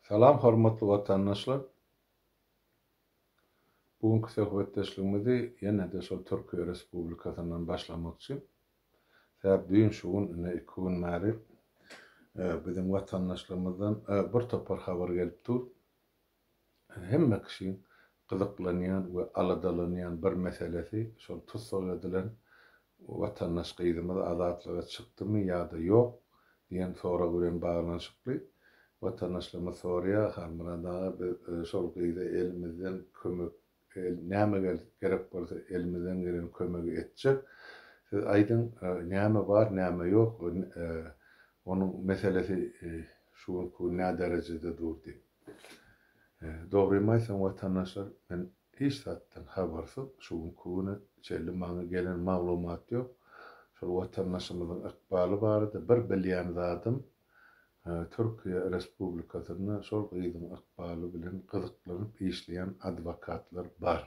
Salam hormatly watandaşlar. Bu günki söhbetdeşligimizi ýene-de şol Türkiýe Respublikasyndan başlamakçy. Sebäp düýn şu gün ine iki gün bäri biziň watandaşlarymyzdan bir topar habar gelip dur. hemme kişiň gyzyklanýan we aladalanýan bir meselesi şol tussag edilen watandaş gyzymyz azatlyga çykdymy ýa-da ýok diýen sorag bilen baglanyşykly. Watandaşlarymyz soraýar, Halmyrat aga biz şol gyza elimizden kömek Eger näme gerek bolsa elimizden gelen kömegi etjek. Siz aýdyň näme bar näme ýok onuň meselesi şu günki gün näderejede dur diýip. Dogrymy aýtsam watandaşlar men hiç zatdan habarsyz şu günki güne çenli maňa gelen maglumat ýok. Şol watandaşymyzyň ykbaly barada bir bilýän zadym Türkiýe Respublikasynda şol gyzyň ykbaly bilen gyzyklanyp işleýän adwokatlar bar.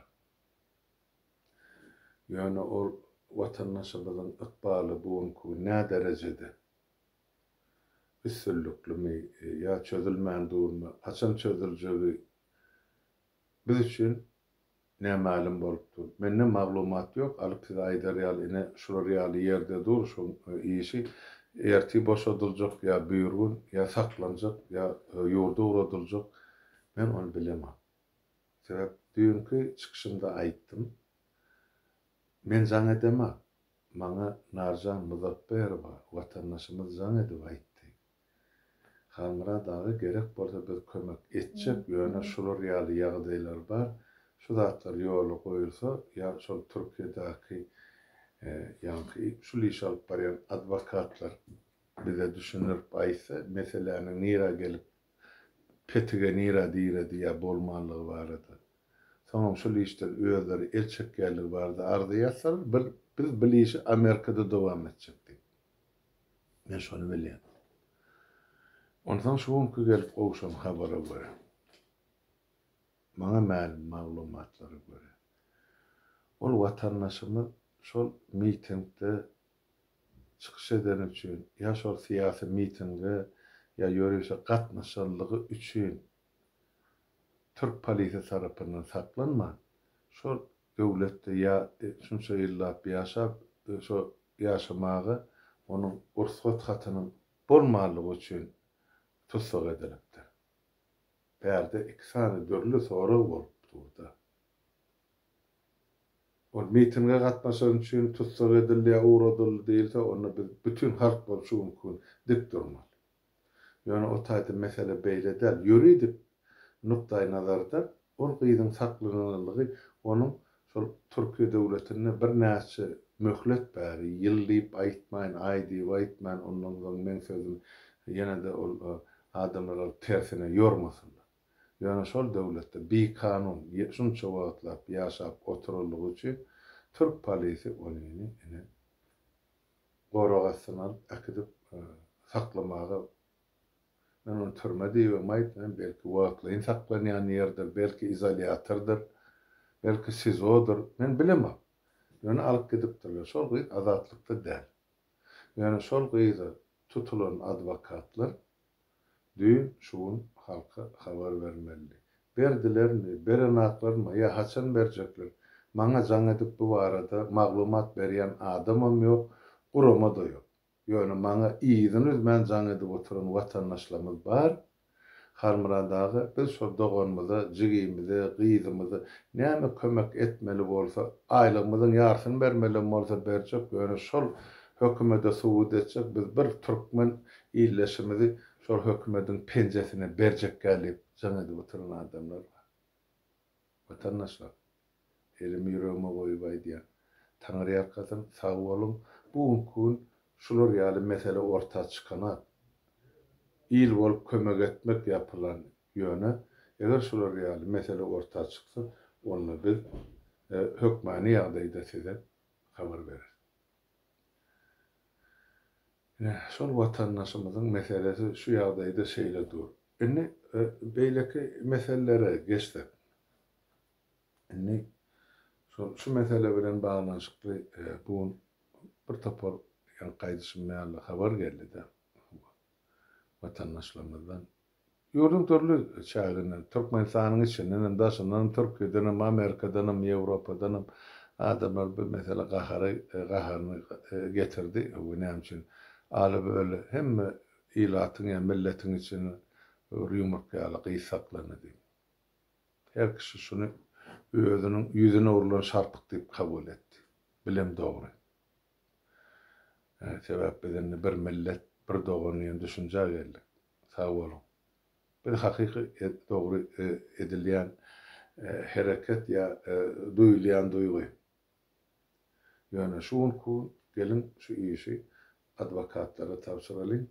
Ýöne ol watandaşymyzyň ykbaly bu günki gün näderejede? Üstünliklimi ýa çözülmän durmy? Haçan çözüljegi biz üçin Nä mälim bolup dur. Mende maglumat ýok alyp size aýdar ýaly ine şular ýaly ýerde dur şoň işi ertir boşadyljak ýa birgün ýa saklanjak ýa ýurda ugradyljak men ony bilemok sebäp düýnki çykyşymda aýtdym men jaň edemok maňa Narjan Muzapberowa watandaşymyz jaň edip aýtdy Halmyrat aga gerek bolsa biz kömek etjek ýöne şular ýaly ýagdaýlar bar şu zatlar ýola goýulsa ýa şol Türkiýedäki ýaňky şul işi alyp barýan adwokatlar bize düşündirip aýtsa meseläniň nirä gelip petige nirä diredi ýa bolmanlygy barada soňam şul işden özleri el çekýänligi barada arza ýazsalar biz bil işi Amerikada dowam etjek diýip. Men şony bilýän. Onsoň şu günki gelip gowşan habara görä, maňa mälim maglumatlara görä, ol watandaşymyz şol mitingde çykyş edeni üçin, ýa şol syýasy mitinge ýa ýörişe gatnaşandygy üçin türk polisiýa tarapyndan saklanman, şol Döwletde ýa şunça ýyllap ýaşap, şo ýaşamaga onuň rugsat hatynyň bolmanlygy üçin tussag edilipdir. Bärde iki sany dürli sorag bolup dur-da. Ol mitinge gatnaşan üçin tussag edildi ýa ugradyldy diýilse, onda biz bütin halk bolup şu günki gün dik durmaly. Ýöne o taýda mesele beýle däl. Ýuridik nukdaýnazardan ol gyzyň saklananlygy onuň şol Türkiýe döwletinde birnäçe möhlet bäri, ýyl diýip aýtmaýyn, aý diýip aýtmaýyn, ondan soň meň sözüm ýene-de ol adamlar alyp tersine ýormasynlar. Ýöne şol döwletde bikanun şunça wagtlap ýaşap oturanlygy üçin türk polisi ony ine gorag astyna alyp äkidip saklamaga men ony türme diýibem aýtmaýyn, belki wagtlaýyn saklanýan ýerdir, belki izolýatordyr, belki SIZO-dyr, men bilemok. Ýöne alyp gidipdirler. Şol gyz azatlykda däl. Ýöne şol gyza tutulan adwokatlar Düýn şu gün halka habar bermelidi. Berdilermi, berenaklarmy ýa haçan berjekler? Maňa jaň edip bu barada maglumat berýän adamam ýok, gurama-da ýok. Ýöne maňa yzyny üzmän jaň edip oturan watandaşlarymyz bar. Halmyrat aga, biz şol doganymyza, jigimize, gyzymyza näme kömek etmeli bolsa, aýlygymyzyň ýarysyny bermelem bolsa berjek, ýöne şol Hökümede subut etjek biz bir türkmen illeşimizi şol hökümediň penjesine berjekgä diýip jaň edip oturan adamlar bar. Watandaşlar, elimi ýüregime goýup aýdýan, Taňryýalkasyn, sag boluň, bu günki gün şular ýaly mesele orta çykanok. Il bolup kömek etmek ýapylan, ýöne eger şular ýaly mesele orta çyksa, onda biz hökmany ýagdaýda size habar bereris. Ine, şol watandaşymyzyň meselesi şu ýagdaýda şeýle dur. Indi beýleki meselelere geçsek. Indi şol şu mesele bilen baglanyşykly bu gün bir topar ýaňky aýdyşym ýaly habar geldi-de, watandaşlarymyzdan Ýurduň dürli çäginden, Türkmenistanyň içinden hem, daşyndan hem, Türkiýeden hem, Amerikadan hem, Ýewropadan hem adamlar bu meselä gahary gaharyny getirdi. Öwgi näme üçin Alyp öli hemme ilatyň ýa milletiň içinde bir ýumurtga ýaly gysy saklandy diýip. Her kişi şuny özüniň ýüzüne urlan şarpyk diýip kabul etdi. Bilem dogry. Sebäp biz indi bir millet, bir dogan diýen düşünjä geldik. Sag boluň. Biz hakyky dogry edilýän hereket ýa duýulýan duýgy. Ýöne şu gün ku geliň şu işi adwokatlara tabşyralyň.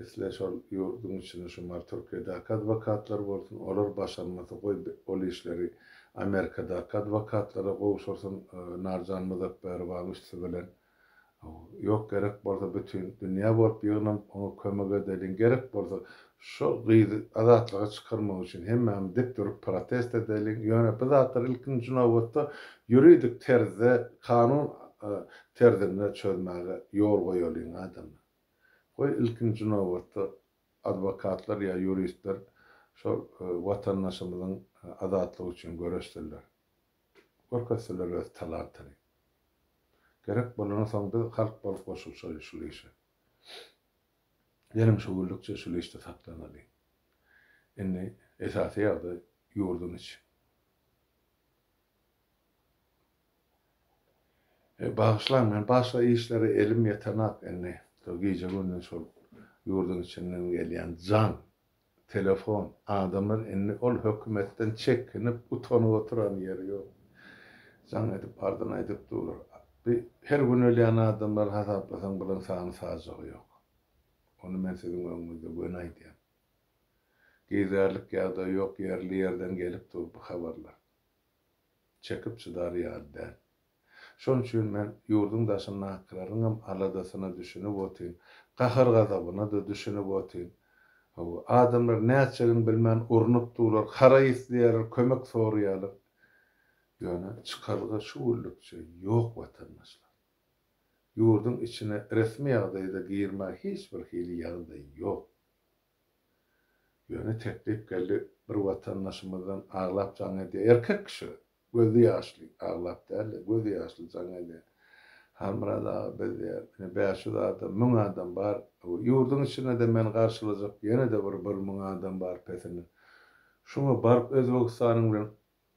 Isle şol ýurduň içinde şu mar Türkiýedäki adwokatlar bolsun, olar başarmasa goý ol işleri Amerikadaky adwokatlara gowşursyn Narjan Muzapbärowanyň üsti bilen. Ýok gerek bolsa bütin dünýä bolup ýygnanyp oňa kömek edeliň gerek bolsa şol gyzy azatlyga çykarmak üçin hemmämiz dik durup protest edeliň ýöne bu zatlar ilkinji nobatda ýuridik terzde kanun terzinde çözmäge ýol goýalyň adamlar goý ilkinji nobatda adwokatlar ýa ýuristler şol watandaşymyzyň azatlygy üçin göreşsinler. Görkezseler öz talantyny. Gerek bolany soň biz halk bolup goşulyşaly şul işe. Geliň şu güllükçe şul işde saklanaly. Indi esasy ýagdaý ýurduň içi. E, bagyşlaň, men başga işlere elim ýetenak indi. Şol gije-gündiz şol ýurduň içinden gelýän jaň Telefon. Adamlar indi ol hökümetden çekinip, utanyp oturan ýeri ýok. Jaň edip bardan aýdyp durlar. Bi her gün ölýän adamlary hasaplasaň bilen sany sajagy ýok. Ony men siziň öňüňizde göni aýdýan. Gizärlik ýagdaý ýok, ýerli ýerden gelip dur bu habarlar. Çekip çydar ýaly däl. Şon üçin men ýurduň daşyndakylaryňam aladasyna düşünip otyn, gahar-gazabyna-da düşünip otyn. Hawa, adamlar nätjegini bilmän urnup durlar, haraý isleýärler, kömek soraýarlar. Ýöne çykalga şu günlükçe ýok watandaşlar. Ýurduň içine resmi ýagdaýda girmäge hiç bir hili ýagdaý ýok. Ýöne teklip geldi, bir watandaşymyzdan aglap jaň edýär, erkek kişi, Gözi ýaşly, aglap däl-de, gözi ýaşly jaň edýär. Halmyrat aga biz diýýär, ine bäş ýüz adam, müň adam bar. Ýurduň içinde-de meni garşylajak ýene-de bir bir müň adam bar pesine. Şuňa baryp Özbegistanyň bilen,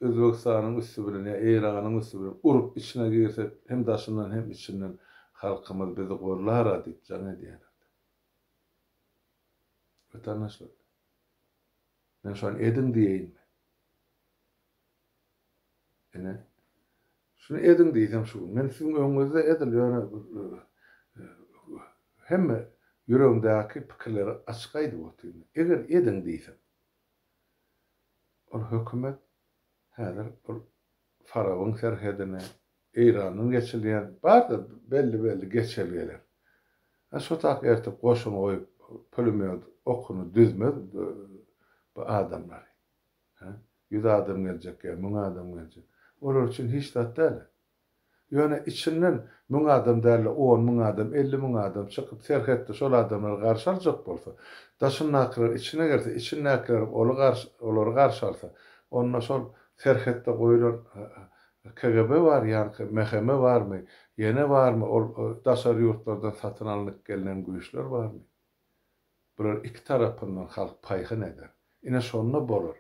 Özbegistanyň üsti bilen ýa Eýranyň üsti bilen urup içine girsek, hem daşyndan hem içinden halkymyz bizi gollar-a diýip jaň edýärler. Wetandaşlar, men şony ediň diýeýinmi? Ine, şuny ediň diýseň şu gün. Men siziň öňüňizde edil ýöne hemme ýüregiňdäki pikirleri açyk aýdyp otyryn. Eger ediň diýseň. Ol hökümet häzir ol Farabyň serhedini, Eýranyň geçilýän bardyr belli-belli geçelgeler. Hä şo tak ertir goşun goýup, pulemýot okuny düzmez bu adamlary. Hä? Ýüz adam geljek ýa müň adam geljek? Olar üçin hiç zat däl-ä. Ýöne içinden müň adam däl-de on müň adam, elli müň adam çykyp, serhetde şol adamlary garşy aljak bolsa, daşyndakylar içine girse, içindäkilerem oly garşy, olary garşy alsa, onda şol serhetde goýlan KGB bar ýaňky, MHM barmy, ýene barmy ol daşary ýurtlardan satyn alnyp gelnen güýçler barmy? Bular iki tarapyndan halk paýhyn eder. Ine şonda bolar.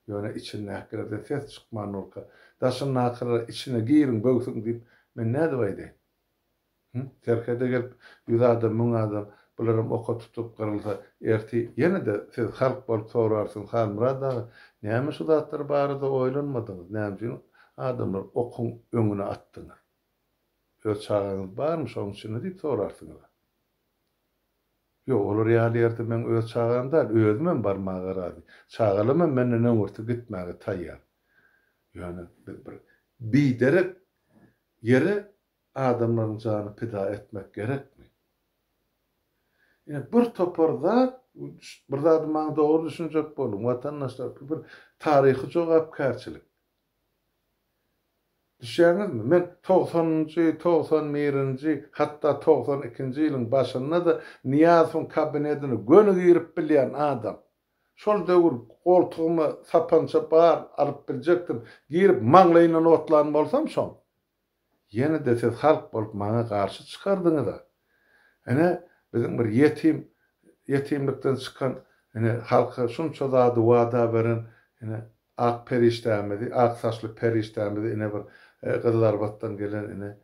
Ýöne içindäkilerden ses çykman durka, daşyndakylara içine giriň böwsüň diýip, men nädip aýdaýyn? Hü, serhede gelip, ýüz adam, müň adam bularam oka tutulyp gyrylsa, ertir ýene-de siz halk bolup sorarsyňyz, Halmyrat aga, näme şu zatlar barada oýlanmadyňyz, näme üçin adamlary okuň öňüne atdyňyz? Öz çagaňyz barmy şoň içinde diýip sorarsyňyz-a. Ýok, olar ýaly ýerde meň öz çagam däl, özümem barmaga razy. Çagalamam menden öňürti gitmäge taýýar. Ýöne biz bir biderek ýere adamlaryň jany pida etmek gerekmi? Ine, bir topar zat, bir zady maňa dogry düşünjek boluň, watandaşlar, bu bir taryhy jogapkärçilik. Düşýäňizmi, men togsanynjy, togsan birinji, hatda togsan ikinji ýylyň başynda-da Nyýazowyň kabinetine göni girip bilýän adam. Şol döwür goltugyma sapança bar alyp biljekdim, girip maňlaýyndan otlan bolsam, soň. Ýene-de siz halk bolup maňa garşy çykardyňyz-a. Ine, biziň bir ýetim, ýetimlikden çykan, ine, halka şunça zady wada beren, ine, ak perişdämizi, ak saçly perişdämizi, ine, bir Gyzylarbatdan gelen, ine,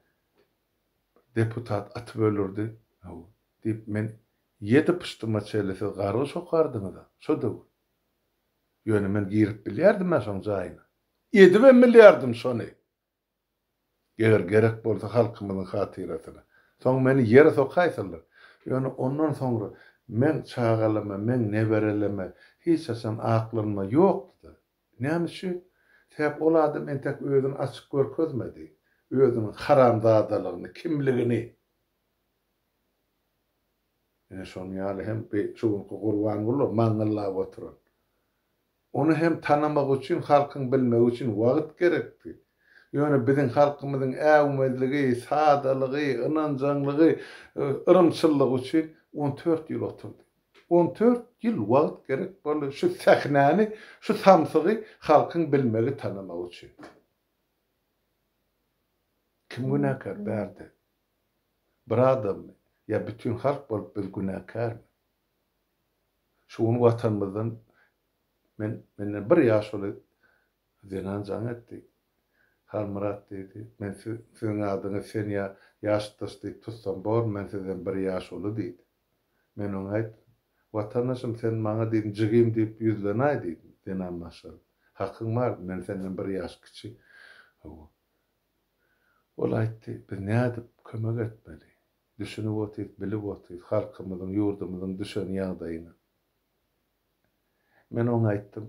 deputat atyp öldürdi. Hawa, diýip, men ýedi pyşdyma çenli siz gargy şokardyňyz-a, şo döwür. Ýöne men girip bilýärdim-ä şoň jaýyna. Edibem bilýärdim şony. Eger gerek bolsa halkymyzyň hatyrasyna. Soň meni ýere sokaýsalar, ýöne ondan soňra meň çagalama, meň nebereleme hiç haçan aklanma ýokdy-da. Näme üçin? Sebäp ol adam entek özüni açyk görkezmedi. Özüniň haramzadalygyny, kimligini. Ine şonuň ýaly hem şu günki Gurbanguly maňňyllap oturan. Ony hem tanamak üçin halkyň bilmegi üçin wagt gerekdi. Ýöne biziň halkymyzyň äwmezligi, sadalygy, ynanjaňlygy, yrymçyllygy üçin on dört ýyl oturdy. On dört ýyl wagt gerek boldy şu sähnäni, şu samsygy halkyň bilmegi, tanamagy üçin. Kim günäkär bärde? Bir adammy? Ýa bütin halk bolup biz günäkärmi? Şu gün Watanymyzdan men menden bir ýaşuly zenan jaň etdi. Halmyrat diýdi, men siziň adyňyz sen ýa ýaşdaş diýip tutsam bormy, men sizden bir ýaş uly diýdi. Men oňa aýtdym, Watandaşym sen maňa diýdim jigim diýip ýüzlenaý diýdim, zenan maşgala. Hakyň bardy, men senden bir ýaş kiçi. Hawa. Ol aýtdy, biz nädip kömek etmeli? Düşünip otyrys, bilip otyrys halkymyzyň, ýurdumyzyň düşen ýagdaýyny. Men oňa aýtdym,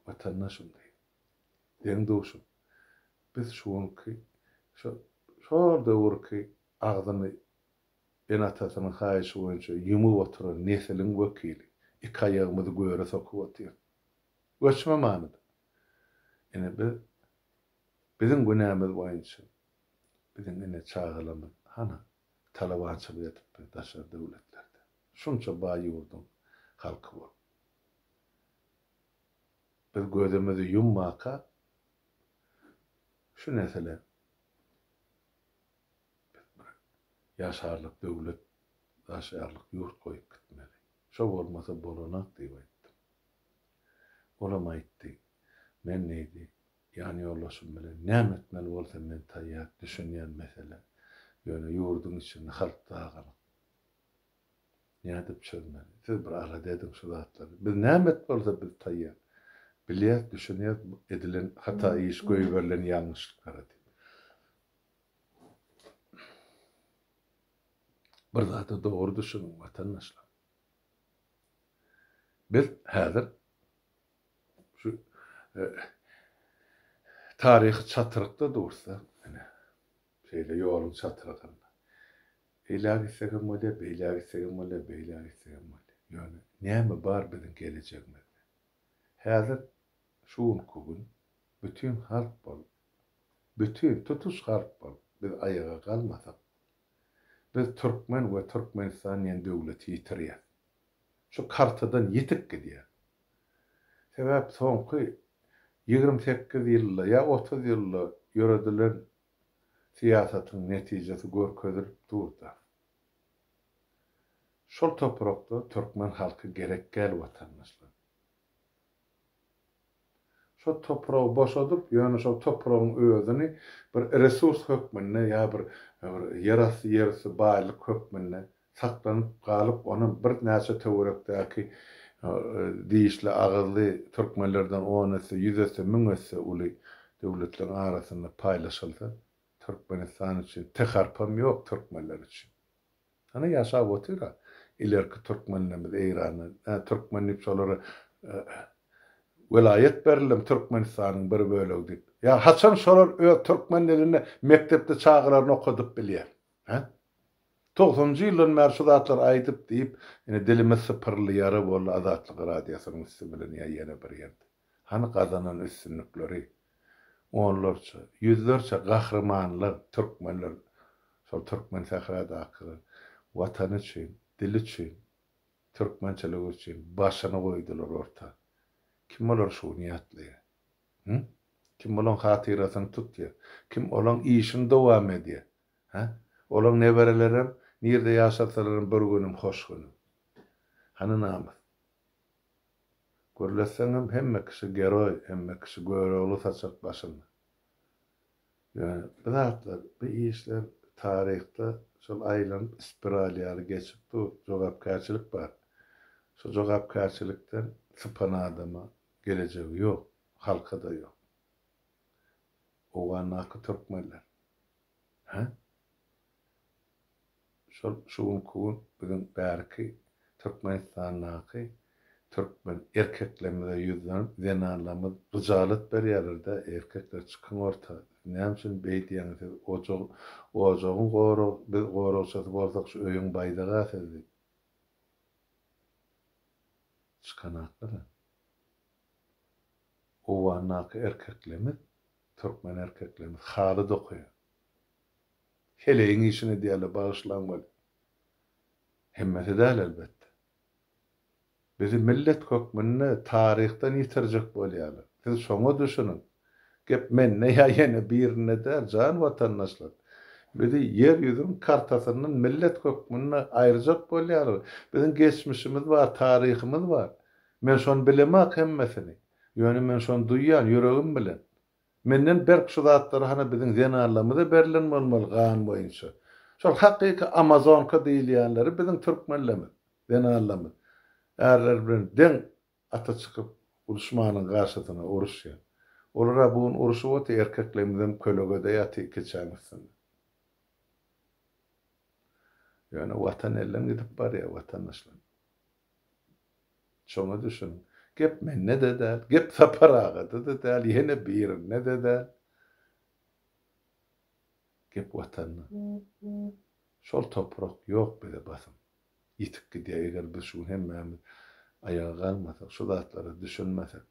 Watandaşym diý, deň-duşum, biz şu günki, şo, şol döwürki agzyny ene-atasynyň haýyşy boýunça ýumup oturan nesiliň wekili, iki aýagymyzy göre sokup otyrys. Göçme manyda. Ine, biz, biziň günämiz boýunça, Biziň ine çagalarymyz hana talabançylyk edipmi daşary döwletlerde. Şunça baý ýurduň halky bolup. Biz gözümizi ýummaka şu nesile biz bir ýaşarlyk döwlet, ýaşaýarlyk ýurt goýup gitmeli. Şo bolmasa bolanak diýip aýtdym. Olam aýtdy. Men diýdi, Ýan ýoldaşym bilen näme etmeli bolsam men taýýar, düşünýän mesele. Ýöne ýurduň içinde halk dagalyk. Nädip çözmeli? Siz bir alada ediň şu zatlary. Biz näme et bolsa biz taýýar. Bilýäs, düşünýäs bu edilen hata iş, goýberilen ýalňyşlyklary diýip. Bir zada dogry düşüniň watandaşlar. Biz häzir Şu taryhy çatrykda dursa, ine, şeýle ýoluň çatrygynda. Eýläk gitsek hem bolýar, beýläk gitsek hem bolýar, beýläk gitsek hem bolýar. Ýöne näme bar biziň gelejegimizde? Häzir şu günki gün bütin halk bolup, bütin tutuş halk bolup biz aýaga galmasak, biz türkmen we Türkmenistan diýen döwleti ýitirýäris. şu kartadan ýitip gidýär. Sebäp soňky ýigrimi sekiz ýylda ýa otuz ýylda ýöredilen syýasatyň netijesi görkezilip dur-da. Şol toprakda türkmen halky gerekgäl watandaşlar. Şo topragy boşadyp, ýöne şo topragyň özüni bir resurs hökmünde ýa bir bir ýerasty ýerüsti baýlyk hökmünde saklanyp galyp, onam birnäçe töwerekdäki dişli agyzly türkmenlerden on esse, ýüz esse, müň esse uly döwletleriň arasynda paýlaşylsa, Türkmenistan üçin teharpam ýok türkmenler üçin. Hany ýaşap otyra ilerki türkmenlerimiz Eýranda nä türkmen diýip şolara welaýat berildim türkmenistanyň bir bölegi diýip ýa haçan şolar öz türkmen dilinde mekdepde çagalaryny okadyp bilýär he togsanjy ýyldan bäri şu zatlary aýdyp diýip ine dilimiz sypyrylýara boldy azatlyk radiosynyň üsti bilen ýa ýene bir ýerde. Hany gazanan üstünlikleri? Onlarça, ýüzlerçe gahrymanlar, türkmenler, şol türkmen sähradakylar Watany üçin, dili üçin, türkmençiligi üçin başyny goýdular orta. Kim olar şu gün ýatlaýar? Hä? Kim olaň hatyrasyny tutýar? Kim olaň işini dowam edýär? Hä? Olaň neberelerem nirde ýaşasalarem bir günüm hoş günüm. Hany namys? Gürletseňem hemme kişi geroý, hemme kişi Görogly saçak başyny. Ýöne bu zatlar, bu işler taryhda şol aýlanyp spiral ýaly geçip dur, jogapkärçilik bar. Şu jogapkärçilikden sypan adama gelejegi ýok, halka-da ýok. Owgandaky türkmenler. Hä? Şol şu günki gün biziň bärki Türkmenistandaky türkmen erkeklerimize ýüzlenip zenanlarymyz hyjalat berýärler-de, erkekler çykyň orta, näme üçin beý diýäňiz siz ojag, ojagyň gorag, biz goragçysy bolsak şu öýüň baýdaga siz diýip. Çykanaklar-a. Owgandaky erkeklerimiz, türkmen erkeklerimiz haly dokaýar. Heleýiň işini edýärler, bagyşlaň weli. Hemmesi däl elbetde. Bizi millet hökmünde taryhdan ýitirjek bolýarlar. Siz şoňa düşüniň. Gep mende ýa ýene birinde däl, jan watandaşlar. Bizi ýer ýüzüniň kartasyndan millet hökmünde aýyrjak bolýarlar. Biziň geçmişimiz bar, taryhymyz bar. Men şony bilemok hemmesini. Ýöne men şony duýýan, ýüregim bilen. Menden berk şu zatlary hany biziň zenanlarymyza berlen bolmaly gan boýunça. Şol hakyky amazonka diýilýänleri biziň türkmenlerimiz, zenanlarymyz. Ärler bilen deň ata çykyp duşmanyň garşysyna uruşýar. Olara bu gün uruşyp otyr erkeklerimizem kölegede ýatyr keçäň üstünde. Ýöne watan elden gidip barýar watandaşlar. Şoňa düşün. Gep mende-de däl, gep Sapar agada-da däl, ýene birinde-de däl. Gep Watanda. Şol toprak ýok bize basym. Ýitip gidýär, eger biz şu gün hemmämiz aýaga galmasak, şu zatlara düşünmesek.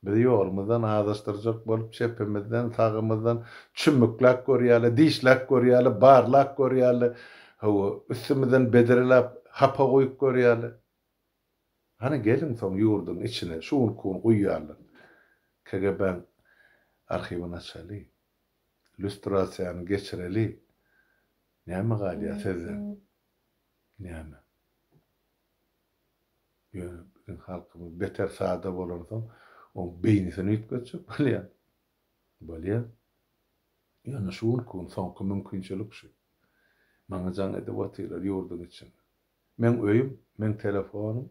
Bizi ýolumyzdan azaşdyrjak bolup, çepimizden, sagymyzdan çümmükläp görýärler, dişläp görýärler, barlap görýärler, hawa, üstümizden bedreläp, hapa guýup görýärler. Hany, geliň soň ýurduň içine, şu günki gün guýýarlar. KGB-niň arhiwini açaly. Lýustrasiýany geçireli. Näme galýar sizden? Näme? Ýöne biziň halkymyz beter sada bolansoň, oň beýnisini üýtgetjek bolýar. Bolýar. Ýöne şu günki gün soňky mümkinçilik şu. Maňa jaň edip otyrlar ýurduň içinde. Meň öýüm, meň telefonym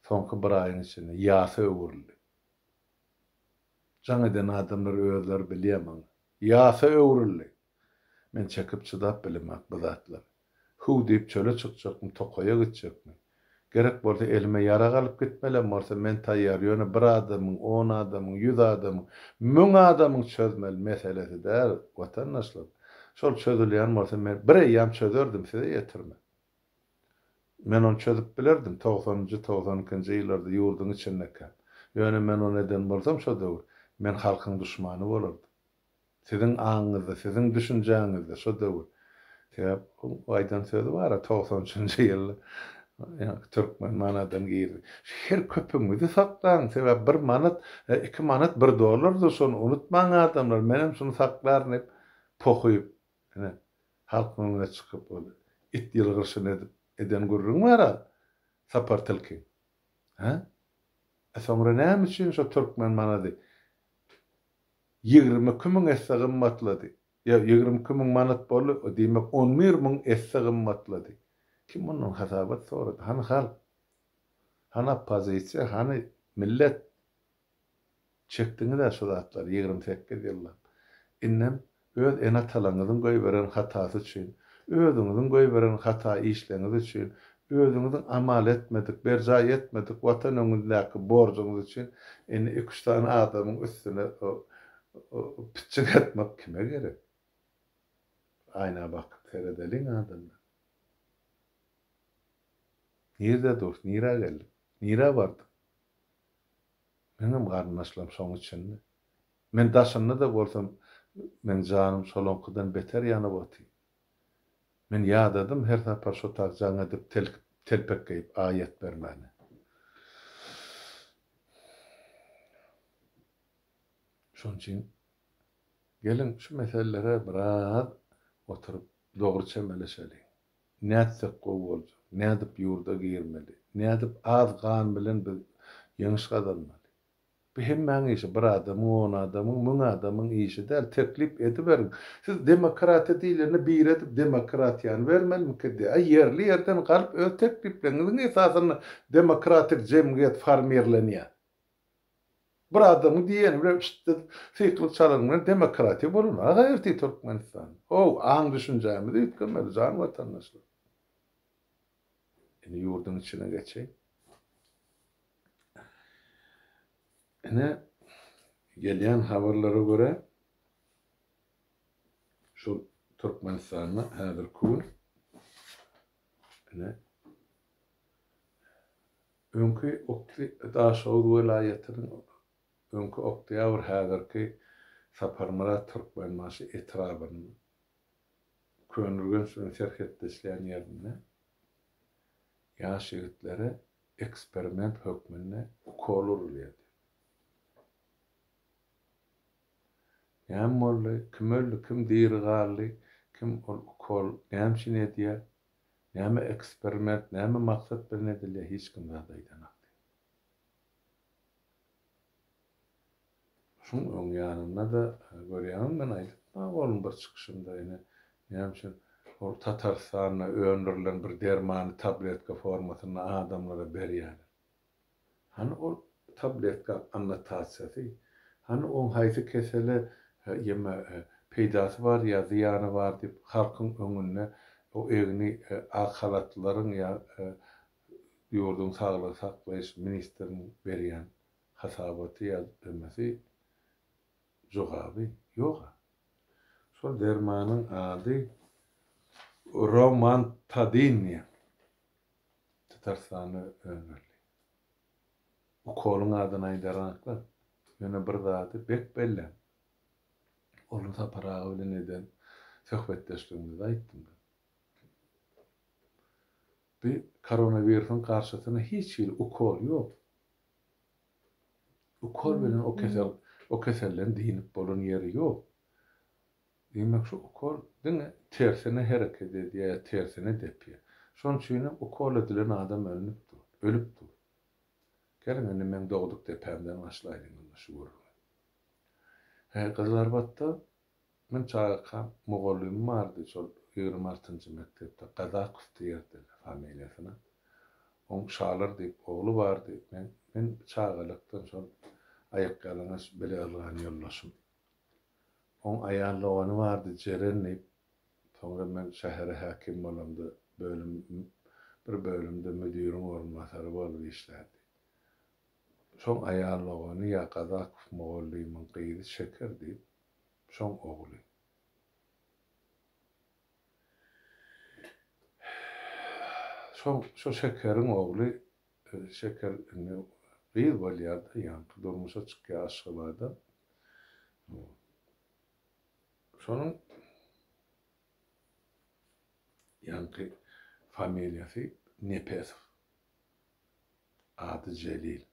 soňky bir aýyň içinde ýasa öwrüldi. Jaň eden adamlar özleri bilýär maňa. Ýasa öwrüldi. Men çekip çydap bilemak bu zatlary. Hüw diýip çöle çykjakmy, tokaýa gitjekmi? Gerek bolsa elime ýarag alyp gitmelem bolsa men taýýar, ýöne bir adamyň, on adamyň, ýüz adamyň, müň adamyň çözmeli meselesi däl, watandaşlar. Şol çözülýän bolsa men bir eýýam çözerdim, size ýetirme. Men ony çözüp bilerdim, togsanynjy, togsan ikinji ýyllarda ýurduň içindekäm. Ýöne men ony eden bolsam şo döwür, men halkyň duşmany bolardym. Siziň aňyňyzda, siziň düşünjäňizde şo döwür. Sebäp bu aýdan sözi bar-a, togsan üçünji ýylda ýaňky türkmen manadan girdi. Her köpügiňizi saklaň, sebäp bir manat, iki manat bir dollardyr, şony unutmaň adamlar, menem şuny saklaryn diýip, pohyp, ine, halkyň öňüne çykyp ol it ýylgyryşyny edip, eden gürrüňi bar-a Sapar tilkiň. Hä? E soňra näme üçin şo türkmen manady Ýigrimi iki müň esse gymmatlady. Ýa, ýigrimi iki müň manat boldy, o diýmek, on bir müň esse gymmatlady. Kim mundan hasabat sorady? Hany halk? Hany oppozisiýa? Hany millet? Çekdiňiz-ä şu zatlary ýigrimi sekiz ýyllap. Indem Öz ene-atalaryňyzyň goýberen hatasy üçin, özüňiziň goýberen hata işleňiz üçin, özüňiziň amal etmedik, berjaý etmedik Watan öňündäki borjuňyz üçin indi iki-üç sany adamyň üstüne pitjik atmak kime gerek? Aýna bakyp seredeliň adamlar. Nirde durus, nirä geldik, nirä bardyk? Meňem garyndaşlarym şoň içinde. Men daşynda-da bolsam, meň janym şolaňkydan beter ýanyp oty. Men ýadadym her sapar şo tak jaň edip telpek geýip aýat bermäni. Şoň üçin geliň şu meselelere biraz oturyp dogry çemeleşeliň. Nätsek gowy boljak, nädip ýurda girmeli, nädip az gan bilen biz ýeňiş gazanmaly? Bu hemmäň işi, bir adamyň, on adamyň, müň adamyň işi däl, teklip ediberiň. Siz demokratiýa diýlende biri edip demokratiýany bermelmiki diýýär. A ýerli ýerden galyp öz teklipleriňiziň esasynda demokratik jemgyýet formirlenýär. Bir adamyň diýeni bilen ştdy syklyk çalanyň bilen demokratiýa bolanok aga ertir Türkmenistanda. Ho-ow, aň-düşünjämizi üýtgemeli jan watandaşlar. Indi ýurduň içine geçeýin. Ine, gelýän habarlara görä, şol Türkmenistanda häzirki gün ine, öňki Okty, Daşoguz welaýatynyň öňki Oktýabr, häzirki Saparmyrat Türkmenbaşy etrabynyň Köneürgenç bilen serhetleşýän ýerinde ýaş ýigitlere eksperiment hökmünde ukol urulýardy. Näme boldy, kim öldi, kim diri galdy, kim ol ukol näme üçin edýär, näme eksperiment, näme maksat bilen edilýär, hiç kim zat aýdanokdy. Şuň öň ýanynda-da görýäňmi men aýdypma bolum bir çykyşymda ine näme üçin ol Tatarystanda öndürilen bir dermany tabletka formasynda adamlara berýäler. Hany ol tabletka annotasiýasy, hany oň haýsy kesele ýeme peýdasy bar ýa zyýany bar diýip halkyň öňünde o egni ak halatlylaryň ýa ýurduň saglygy saklaýyş ministriniň berýän hasabaty ýa-da demesi, jogaby ýog-a. Şol dermanyň ady Romantadin diýen Tatarstanda öndürildi. Ukolyň adyny aýdarynaklar, ýöne bir zady berk belläň, ony Sapar aga bilen eden söhbetdeşligimizde aýtdym. Bi koronawirusyň garşysyna hiç hili ukol ýok. Ukol bilen o kesel o keselden dynip bolan ýeri ýok. Diýmek şu ukol diňe tersine hereket edýär, tersine depýär. Şonuň üçin hem ukol edilen adam ölnüp dur, ölüp dur. Geliň indi meň dogduk depämden başlaýlyň indi şu gürrüňi. He gyzlarbatda Men çagakam mugallymym bardy şol ýigrimi altynjy mekdepde Gazakow diýerdiler familiýasyna. Oň Şalar diýip ogly bardy. Men men çagalykdan şol aýakýalaňaç bile ylgan ýoldaşym. Oň aýal dogany bardy Jeren diýip. Soňra men şähere häkim bolamda bölüm bir bölümde müdiriň orunbasary bolup işlärdi. Şoň aýal dogany ýa Gazakow mugallymyň gyzy Şeker diýip, şoň ogly. Şoň şo Şekeriň ogly, Şeker indi gyz bolýar-da, ýaňky durmuşa çykýar Aşgabada. Şonuň ýaňky familiýasy Nepesow. Ady Jelil.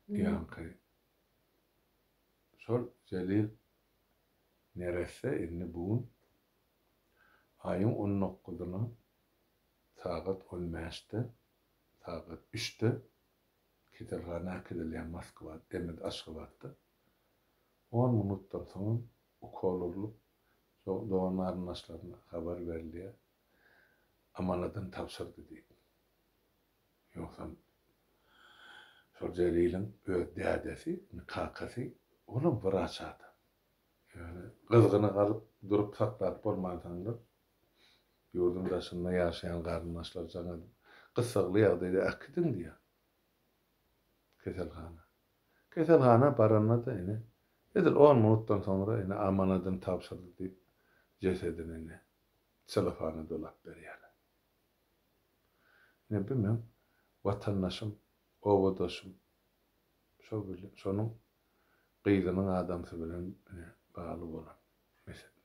Ýaňky şol Jelil neresse indi bu gün aýyň on dokguzyna sagat on bäşde, sagat üçde keselhana äkidilýär Moskwa, demek Aşgabatda. On minutdan soňam ukol urlup, dogan-garyndaşlaryna habar berilýär, Amanatyn tabşyrdy diýip. Ýogsam, şol Jeliliň öz dädesi, indi kakasy, olam wraç adam. Ýöne gyzgyny galyp, durup saklap bolmansoňlar, ýurduň daşynda ýaşaýan garyndaşlar jaň edip, gyssagly ýagdaýda äkidiň diýýär keselhana. Keselhana baranda-da, ine, edil on minutdan soňra, ine, Amanatyn tabşyrdy diýip, jesedini, ine, celofana dolap berýärler. Ine, bu meň watandaşym, obadaşym, şo bilen, şonuň gyzynyň adamsy bilen ine, bagly bolan mesele.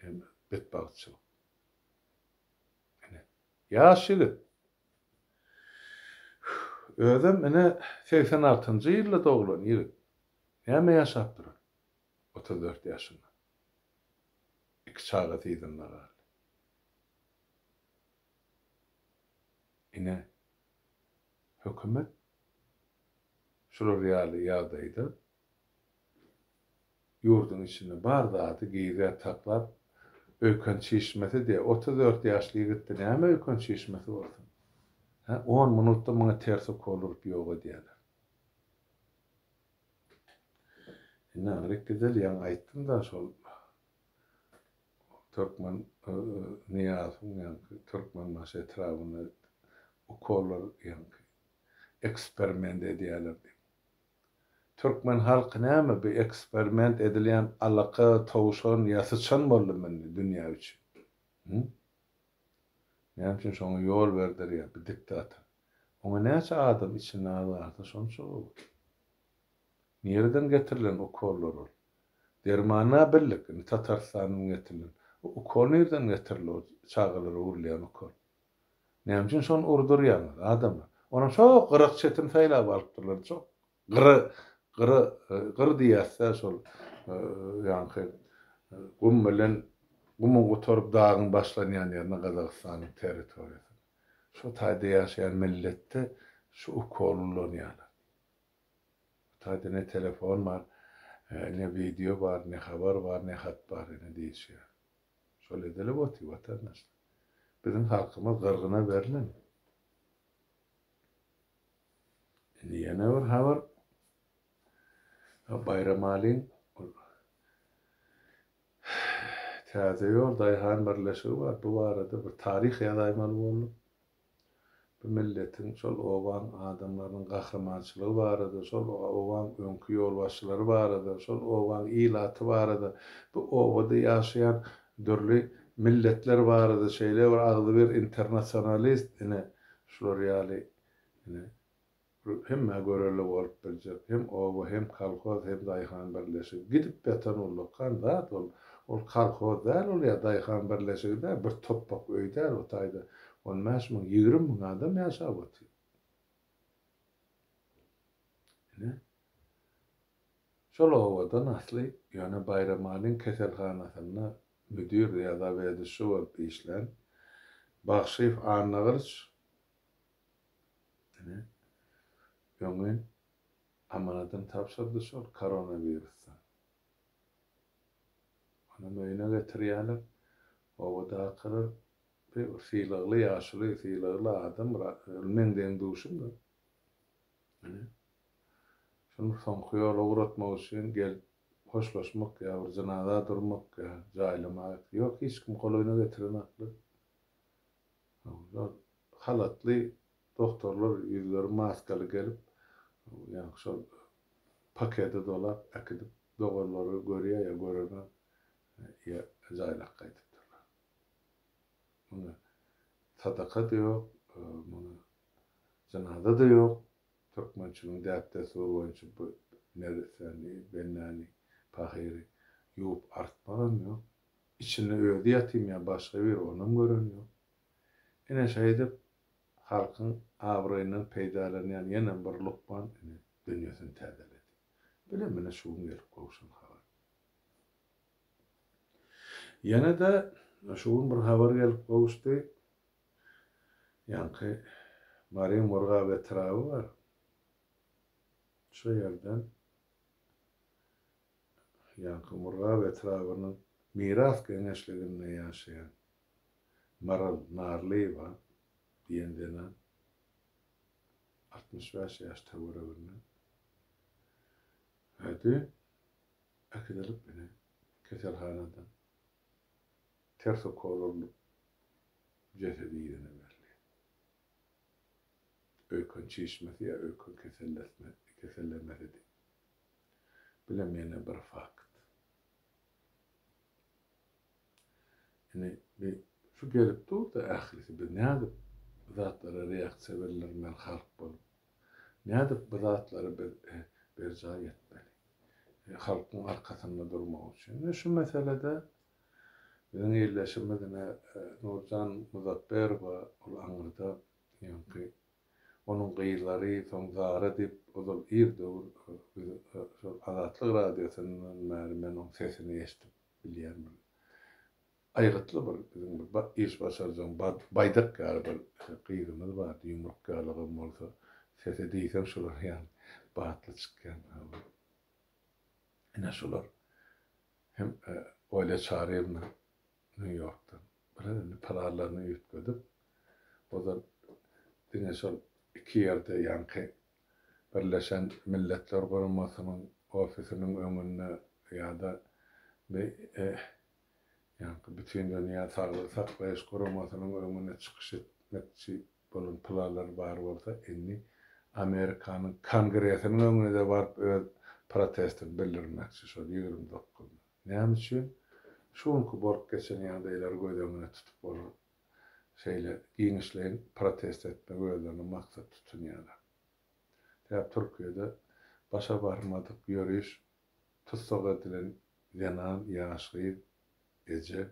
Ine, betbagtçylyk. Ine, ýaş ýigit. Özem, ine, segsen altynjy ýylda doglan ýigit. Näme ýaşap duran? otuz dört ýaşynda. Iki çagasy yzynda galdy. Ine, hökümet şular ýaly ýagdaýda ýurduň içinde bar zady gizä saklap, öýken çişmesi diýýär. Otuz dört ýaşly ýigitde näme öýken çişmesi bolsun? Hä, on minutda muňa ters ukol urup ýok edýärler. Indi Anrik Gizel ýaňy aýtdym-da şol Türkmen Nyýazowyň ýaňky Türkmenbaşy etrabynda ukollar ýaňky eksperiment edýäler diýip. Türkmen halky näme bu eksperiment edilýän alaka, towşan ýa syçan boldumy indi dünýä üçin? Hü? Näme üçin şoňa ýol berder ýa bir diktator? Oňa näçe adam içinde az galsa şonça gowy. Nireden getirilen ukollar ol? Dermana birlik indi Tatarystandan getirilen. O ukol nireden getirildi o çagalara urulýan ukol? Näme üçin şony urdurýaňyz adamlar? Onam şo gyrak çetini saýlap alypdyrlar çok Gyra, gyra, gyr diýýäs-dä şol ýaňky gum bilen gumuň gutaryp dagyň başlanýan ýerine Gazagystanyň territoriýasyna. Şu taýda ýaşaýan milletde şu ukol ulanýarlar. Bu taýda ne telefon bar, ne wideo bar, ne habar bar, ne hat bar ine diýişýär. Şol edilip otyr watandaşlar. Biziň halkymyz gyrgyna berlen. Indi ýene bir habar. Baýramalyň Täze ýol daýhan birleşigi bar. Bu barada bir taryh ýazaýmaly boldum. Bu milletiň, şol obaň adamlarynyň gahrymançylygy barada, şol obaň öňki ýolbaşçylary barada, şol obaň ilaty barada, bu obada ýaşaýan dürli milletler barada şeýle bir agzybir internasionalist ine şular ýaly Ine, bu hemmä görelde bolup biljek. Hem oba, hem kolhoz, hem daýhan birleşigi. Gidip ýatan ullakan zat ol. Ol kolhoz däl ol ýa daýhan birleşigi däl, bir topbak öý däl o taýda on bäş müň, ýigrimi müň adam ýaşap otyr. Ine, şol obadan asly ýöne Baýramalyň keselhanasynda müdir ýa zaweduşi bolup işlän Bagşyýew Annagylyç Ine, öňi amanatym tabşyrdy şol koronawirusdan. Onam öýüne getirýärler. Obadakylar bir sylagly ýaşuly, sylagly adam, ol meň deň-duşumdy. Ine, şuny soňky ýola ugratmak üçin gelip hoşlaşmak ýa bir jynaza durmak ýa jaýlamak, ýok, hiç kim golaýyna getirenoklar. Onda halatly dogtorlar ýüzleri maskaly gelip, ýaňky şol pakede dolap äkidip, doganlary görýär ýa göremem, ýa jaýlap gaýdypdyrlar. Muňa sadaka-da ýok, muňa jynaza-da ýok. Türkmençiligiň däp-dessury boýunça bu nersäni, bennäni, pahyry ýuwup artmagam ýok. Içinde özi ýatymy ýa başga biri onam gören ýok. Ine şeýdip halkyň abraýyndan peýdalanýan ýene bir lukman ine dünýesini täzeledi. Bilen mine şu gün gelip gowşan habar. Ýene-de şu gün bir habar gelip gowuşdy. Ýaňky Mary Murgap etraby bar. Şo ýerden Ýaňky Murgap etrabynyň Miras geňeşliginde ýaşaýan Maral Narlyýewa diýen zenan altmyş bäş ýaş töwereginde häzdi äkidilip ine keselhanada ters ukol urlup jesedi ýüzüne berilýär. Öýken çişmesi ýa öýken kesellesme kesellemesidi. Bilemok ýene bir fakt. Ine bi şu gelip durda ählisi biz nädip bu zatlara reaksiýa bildirmeli halk bolup. Nädip bu zatlary biz berjaý etmeli. Halkyň arkasynda durmak üçin. Ine şu meselede biziň ildeşimiz ine Nurjan Muzapberowa ol aňyrda ýoňky Onuň gyzlary soň Zara diýip, ozal ir döwür biz şol Azatlyk radiosyndan bäri men oň sesini eşidip bilýärmin. Aýgytly bir biziň bir iş başarjaň Baýdak ýaly bir gyzymyz bardy, ýumruk ýalygam bolsa, sesi diýseň şular ýaly batly çykýan. Ine şular hem Olýa Çaryýewna Nýu-Ýorkdan bilen indi planlaryny üýtgedip, ozal diňe şol iki ýerde, ýaňky Birleşen Milletler Guramasynyň ofisiniň öňünde ýa-da ýaňky Bütindünýä Saglygy saklaýyş guramasynyň öňünde çykyş etmekçi bolan planlary bar bolsa, indi Amerikanyň Kongresiniň öňüne-de baryp öz protestini bildirmekçi şol ýigrimi dokuzynda. Näme üçin? Şu günki bolup geçen ýagdaýlary göz öňünde tutup olar şeýle giňişleýin protest etmegi özlerine maksat tutunýarlar. Däp Türkiýede başa barmadyk ýöriş tussag edilen zenan, ýaş gyz, eje,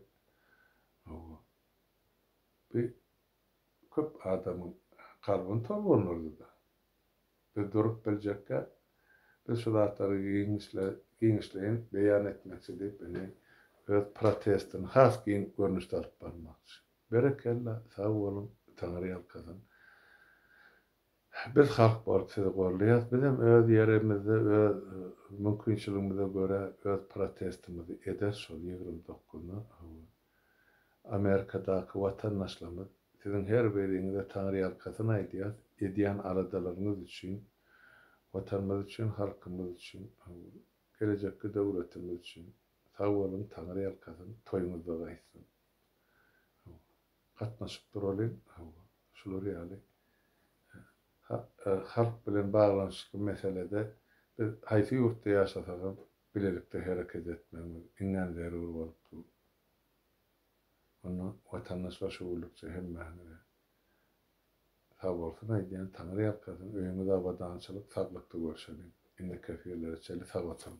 hawa, bi Köp adamyň kalbyny tolgandyrdy-da. Biz durup biljekkäk, biz şu zatlary giňişleýin beýan etmekçi diýip indi öz protestini has giň görnüşde alyp barmakçy. Berekella, sag boluň, Taňryýalkasyn. Biz halk bolup sizi gorlaýas, bizem öz ýerimizde öz mümkinçiligimize görä öz protestimizi eder şol ýigrimi dokuzynda howun. Amerikadaky watandaşlarymyz siziň her biriňize taňryýalkasyn aýdýas edýän aladalaryňyz üçin, watanymyz üçin, halkymyz üçin howun. Gelejekki döwletimiz üçin. Sag boluň taňryýalkasyn, toýuňyzda gaýtsyn. Howun. gatnaşyp duraly, hawa, şular ýaly halk bilen baglanyşykly meselede biz haýsy ýurtda ýaşasagam bilelikde hereket etmegimiz iňňän zerur bolup dur. Onda watandaş başygüllükçi hemmäňize sag bolsun aýdýan, Taňry ýalkasyn, öýüňiz abadançylyk, saglykda görşeliň. Indiki efirlere çenli sag oturyň.